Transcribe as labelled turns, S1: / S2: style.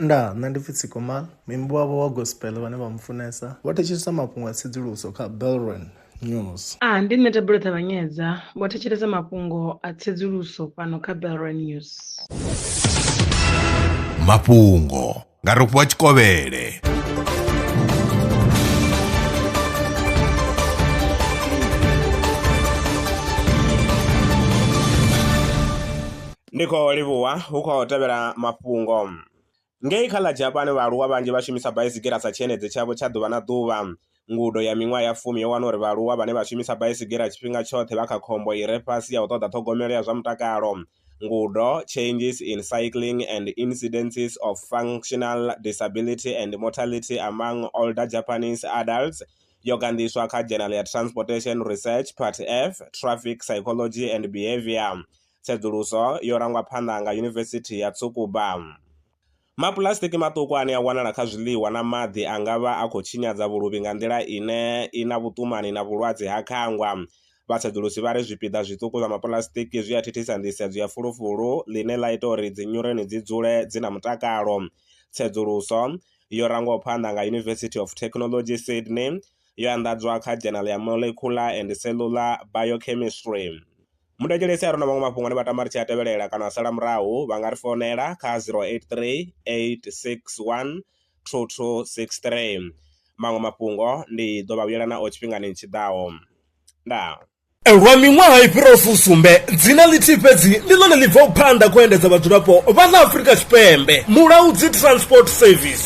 S1: Nda, nṋe ndi pfi Tsikoma, muimbi wavho wa gospel vhane vha mu funesa vho thetshelesa mafhungo a tsedzuluso kha Belron News. A, ndi nṋe Thabelo Ṱavhanyedza, vho thetshelesa mafhungo a tsedzuluso fhano kha Belron News. Mafhungo nga Rofhiwa Tshikovhele. Ndi khou livhuwa hu khou tevhela mafhungo. Ngei kha ḽa Japan, vhaaluwa vhanzhi vha shumisa baisigira sa tshiendedzi tshavho tsha ḓuvha na ḓuvha. Ngudo ya miṅwaha ya fumi yo wana uri vhaaluwa vhane vha shumisa baisigira tshifhinga tshoṱhe vha kha khombo i re fhasi ya u ṱoḓa ṱhogomelo ya zwa mutakalo. Ngudo, Changes in Cycling and Incidences of Functional Disability and Mortality Among Older Japanese Adults, yo ganḓiswa kha dzhenala ya Transportation Research, Part F, Traffic Psychology and Behavior. Tsedzuluso yo rangwa phanḓa nga Yunivesithi ya Tsukuba. Mapuḽasitiki maṱuku ane a wanala kha zwiḽiwa na maḓi a nga vha a khou tshinyadza vhuluvhi nga nḓila ine i na vhuṱumani na vhulwadze ha khangwa. Vhatsedzulusi vha ri zwipiḓa zwiṱuku zwa mapuḽasitiki zwi a thithisa nḓisedzo ya fulufulu, ḽine ḽa ita uri dzinyureni dzi dzule dzi na mutakalo. Tsedzuluso yo rangwaho phanḓa nga University of Technology Sydney yo anḓadzwa kha Journal ya Molecular and Cellular Biochemistry. Muthu a tshi lavhelesa arali hu na maṅwe mafhungo ane vha tama ri tshi a tevhelela kana a sala murahu vha nga ri founela kha zero eight three eight six one two two six three, maṅwe mafhungo ndi ḓo vha vhuyela nao tshifhingani tshi ḓaho. Ndaa. Lwa miṅwaha i fhiraho fusumbe, dzina ḽithihi fhedzi ndi ḽone ḽi bvaho phanḓa kha u endedza vhadzulapo vha ḽa Afrika Tshipembe, Mulaudzi Transport Service.